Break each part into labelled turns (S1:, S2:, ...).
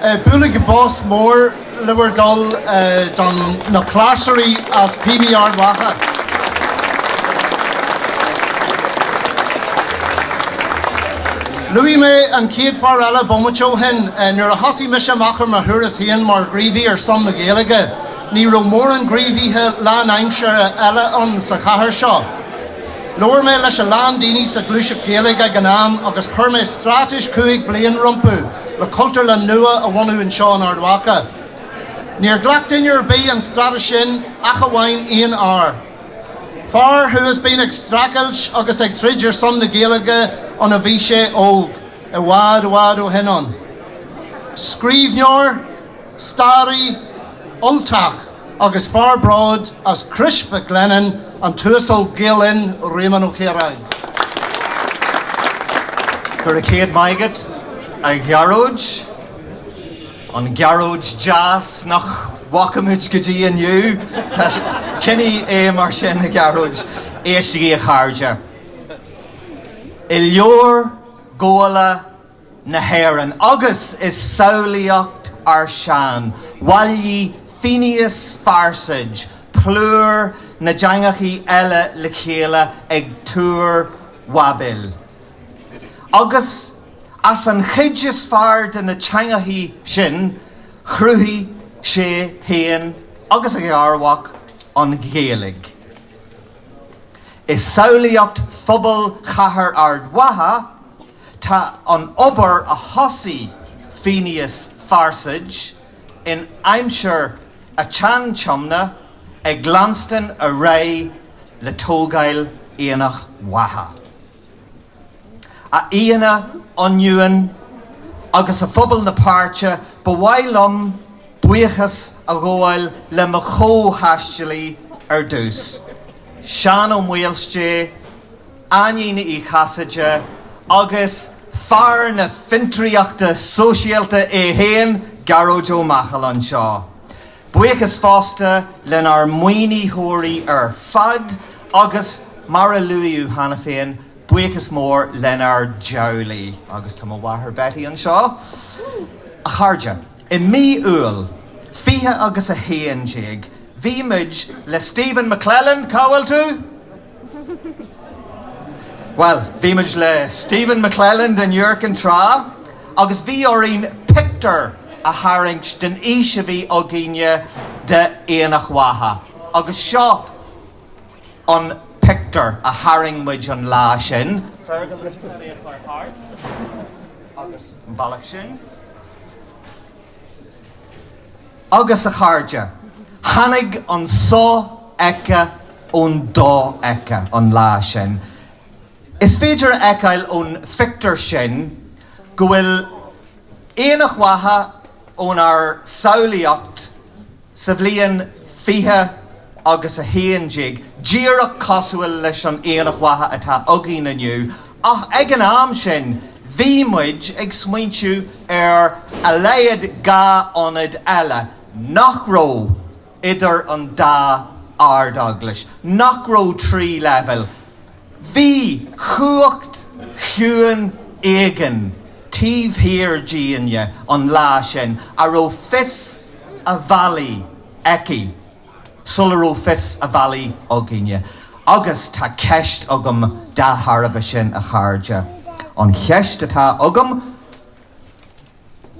S1: Bualadh bos mór le bhur dtoil don na cláirseoirí as PB Ard Mhacha. Luaigh mé an chéad fear eile bomaite ó shin. Eh, nuair a thosaigh mise amach ar mo thuras féin mar ghríomhaí ar son na Gaeilge, ní raibh mórán gríomhaithe lánaimseartha eile ann sa chathair seo. Labhair mé leis a lán daoine sa ghluaiseacht Ghaeilge ag an am agus chuir mé stráitéis cúig bliain rompu le Cultúrlann nua a bhunú anseo in Ard Mhacha. Níor ghlac duine ar bith an stráitéis sin ach amháin aon fhear. Fear atá i ndiaidh a bheith ag streachailt agus ag troid ar son na Gaeilge óna bhí sé óg, i bhfad, i bhfad ó shin ann. Scríbhneoir, staraí, Ultach. agus fear bródúil as Crois Mhic Lionnáin, an tUasal Gael-Linn Réamonn Ó Ciaráin. Go raibh céad maith agat, a Ghearóid, an Ghearóid deas nach bhfaca muid go dtí inniu. Coinnigh é mar sin, a Ghearóid. Éistigí, a chairde. I Leabhar Gabhála na hÉireann agus i samhlaíocht ár sean bhailigh Féinius Farsaid plúr na dteangacha eile le chéile ag Túr Bháibil. Agus as an chuid is fearr de na teangacha sin chruthaigh sé féin agus a gharmhac an Ghaeilge. I samhlaíocht phobal chathair Ard Mhacha, Tá an obair a thosaigh Féinius Farsaid in aimsir an tSean-Tiomna ag leanstan ar aghaidh le tógáil Aonach Mhacha. A aíonna ionúine agus a phobal na páirte, ba mhaith liom buíochas a ghabháil le mo chomhthaistealaithe ar dtús, Seán Ó Maoilsté, Áine Ní Chasaide agus fear na fiontraíochta sóisialta é féin, Gearóid Ó Machail anseo. Buíochas fosta lenár maoinítheoirí ar fad agus, mar a luadh cheana féin, buíochas mór lenár dteaghlaigh, agus tá mo mháthair Betty anseo, a chairde. I mí Iúil 20 agus a 11 bhí muid le Stephen McClelland, cá bhfuil tú? Well, bhí muid le Stephen McClelland in Iúr an tráth agus bhí orainn pictiúr a tharraingt den fhís a bhí againne d'Aonach Mhacha agus seo an pictiúr a tharraing muid an lá sin. Fergal ag féachaint thart agus an bealach sin. agus a chairde. Tháinig an so-fheicthe ón do-fheicthe an lá sin. Is féidir a fheiceáil ón phictiúr sin go bhfuil Aonach Mhacha ónár samhlaíocht sa bhliain 20 agus 11 díreach cosúil leis an Aonach Mhacha atá againn inniu Ach ag an am sin bhí muid ag smaointiú ar a laghad dhá ionad eile nach raibh idir an dá Ard-Eaglais, nach raibh trí leibhéal. Bhí cumhacht chiúin éigin taobh thiar dínne an lá sin a raibh fios a bhealaigh aici. sula raibh fios a bhealaigh againne. Agus tá ceist agam dá thairbhe sin, a chairde. An cheist atá agam,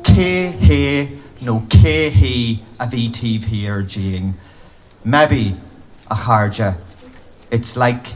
S1: cé hé nó cé hí a bhí taobh thiar dínn? Maybe, a chairde, it's like.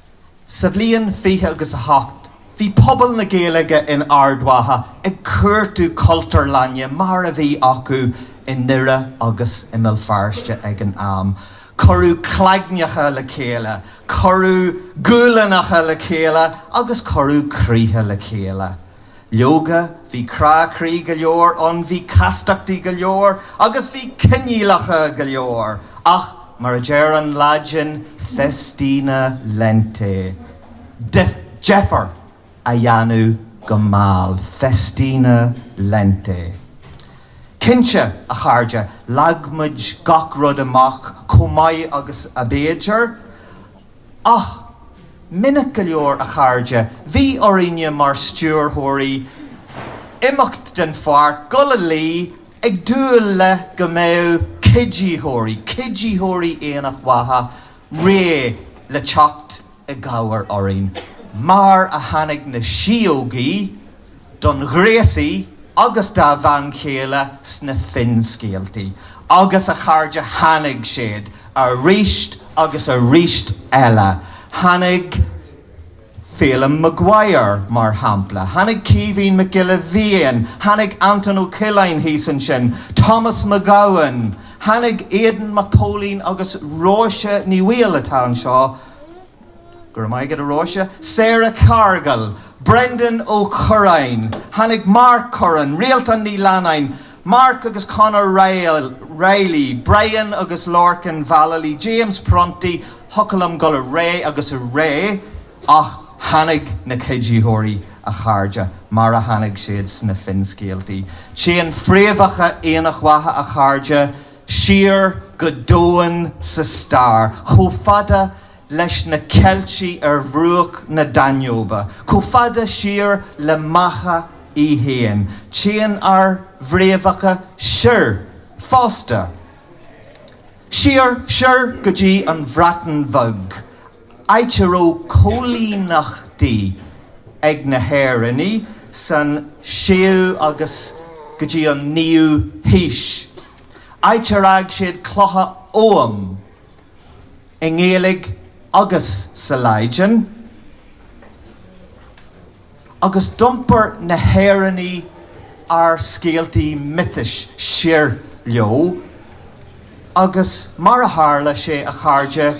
S1: Sa bhliain fiche agus a hocht bhí pobal na Gaeilge in Ard Mhacha ag cuartú Cultúrlainne mar a bhí acu i nDoire agus i mBéal Feirste ag an am. Cuireadh claigneacha le chéile, cuireadh guailneacha le chéile agus cuireadh croíthe le chéile. Leoga, bhí crá croí go leor ann, bhí castachtaí go leor, agus bhí coinníollacha go leor, ach mar a deir an Laidin, festina lente. Deifir a dhéanamh go mall. Festina lente. Cinnte, a chairde, leag muid gach rud amach chomh maith agus ab fhéidir, Ach minic go leor a chairde bhí orainne mar stiúrthóirí, imeacht den pháirc, dul a luí, ag dúil le go mbeadh cuiditheoirí, cuiditheoirí Aonach Mhacha réidh le teacht i gcabhair orainn. Mar a tháinig na síógaí. don ghréasaí agus dá bhean chéile sna finscéaltaí agus a chairde Tháinig siad aríst agus aríst eile. Tháinig Féilim Maguire, mar shampla. Tháinig Caoimhín Mac Giolla Bhéin. Tháinig Anton Ó Coileáin thíos ansin. Tomás Mac Gabhann. Tháinig Aodán Mac Póilin agus Róise Ní Bhaoill atá anseo. Go raibh maith agat a Róise. Sarah Cargill, Brendan Ó Curráin, tháinig Mark Curran, Rialtán Ní Leannáin, Mark agus Conor Reilly, Brian agus Lorcan Vallely, James Prunty, thiocfadh liom dul ar aghaidh agus ar aghaidh ach tháinig na cuiditheoirí a chairde mar a tháinig siad sna finscéaltaí. Téann fréamhacha Aonach Mhacha a chairde. Siar go domhain sa stair, chomh fada leis na Ceiltigh ar bhruach na Danóibe, chomh fada siar le Macha í fhéin, téann ár bhfréamhacha soir fosta. Siar, soir go dtí an Bhreatain Bheag Áit a raibh coilíneachtaí ag na hÉireannaigh san séú agus go dtí an naoú haois. Áit ar fhág siad clocha Ogham i nGaeilge agus sa Laidin. Agus d'iompair na hÉireannaigh ár scéaltaí miotais siar leo agus, mar a tharla sé a chairde,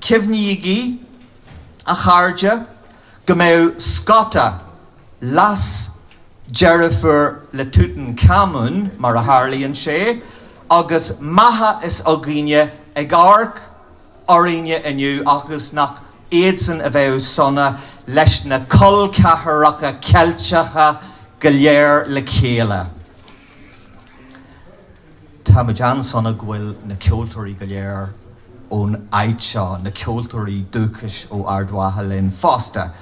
S1: Cuimhnígí, a chairde, go mbeidh Scota leasdeirfiúr le Tútancámún, mar a tharlaíonn sé, agus Macha s'againne, ag amharc orainne inniu agus nach iadsan a bheidh sona leis na col ceathracha Ceilteacha go léir le chéile. Táimid an-sona go bhfuil na ceoltóirí go léir ón áit seo, na ceoltóirí dúchais ó Ard Mhacha linn fosta.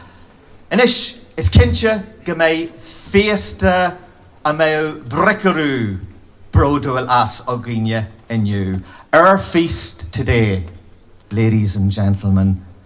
S1: Anois, is cinnte go mbeidh féasta a mbeadh Bricriú bródúil as againne inniu. Our feast today, ladies and gentlemen,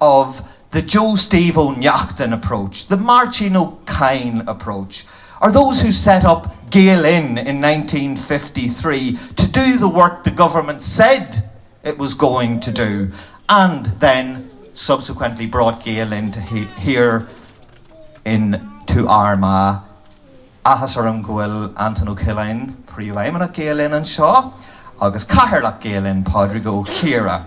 S1: of the Joe Steve Ó Neachtain approach, the Máirtín Ó Cadhain approach, are those who set up Gael Linn in nineteen fifty three to do the work the Government said it was going to do and then subsequently brought Gael Linn to here in to Armagh. Áthas orm go bhfuil Antoine Ó Coileáin, Príomhfheidhmeannach Gael Linn anseo agus Cathaoirleach Gael Linn, Pádraig Ó Ciardha.